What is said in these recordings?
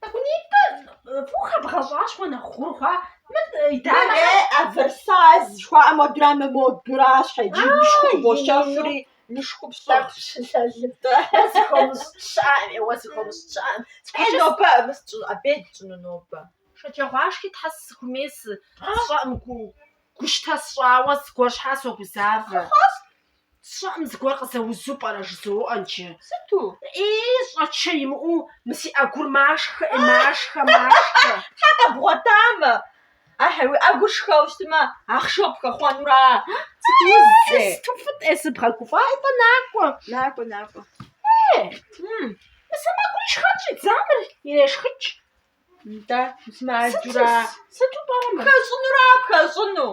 Тӏэкӏунитӏэ фӏыуэ бгъэщӏащ уэ нэхъ гъур хъуа. Мыр дамэ. Э, оверсайз жыхуаӏэ модэра, мы модэращ иджы, инышхуэ бощэфри, инышхуэ псэху. Э, нобэ абы сщӏы, абей дщӏыну нобэ. Шэджагъуашхи тхьэ сыхумей сщӏэӏым гу, гущтэ сщӏауэ зыгуэр щхьа согузавэ. Сщӏэӏым зыгуэр къызэузу пӏэрэ жызоӏэ. Нтӏэ сыту? Ии, щӏэчэ имыӏэу мы си ӏэгур машхэ, машхэ, машхэ. Тхьэ къэбгъуэтамэ! Ахьи, уи ӏэгур шхэу щытмэ, ахъшэу пхэхъуэнура? Сыт уз ӏей? Сыту фӏыт-тӏэ, сыбгъэгуфӏаи-тӏэ, накӏуэ. Накӏуэ, накӏуэ. Ей, мы сэмэгури шхэн щӏидза, мыр ирешхыкӏ. Нтӏэ, мис мыаджура? Сыту пӏэрэ мы? Пхэщӏынура, пхэщӏыну?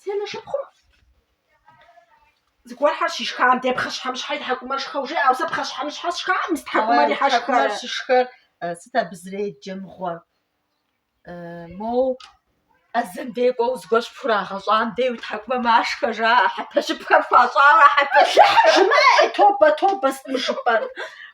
Си анэ шыпхъум зыгуэрхэр щишхам де пхъэщхьэмыщхьэ и тхьэкӏумэр шхэу жеӏэу, сэ пхъэщхьэмыщхьэ сшхам, мы си тхьэкӏумэр щхьэ шхэрэ? Щышхэр сыт абы зэреджэ мыгъуэр? Моу ӏэзэм дей кӏуэу зыгуэр щыпхурагъэщӏам дей уи тхьэкӏумэ машхэ жаӏэ, хьэпэщыпхэр хуащӏауэ хьэпэщыхьыр жымыӏэ, тобэ, тобэ, сыт мы жыпӏэр?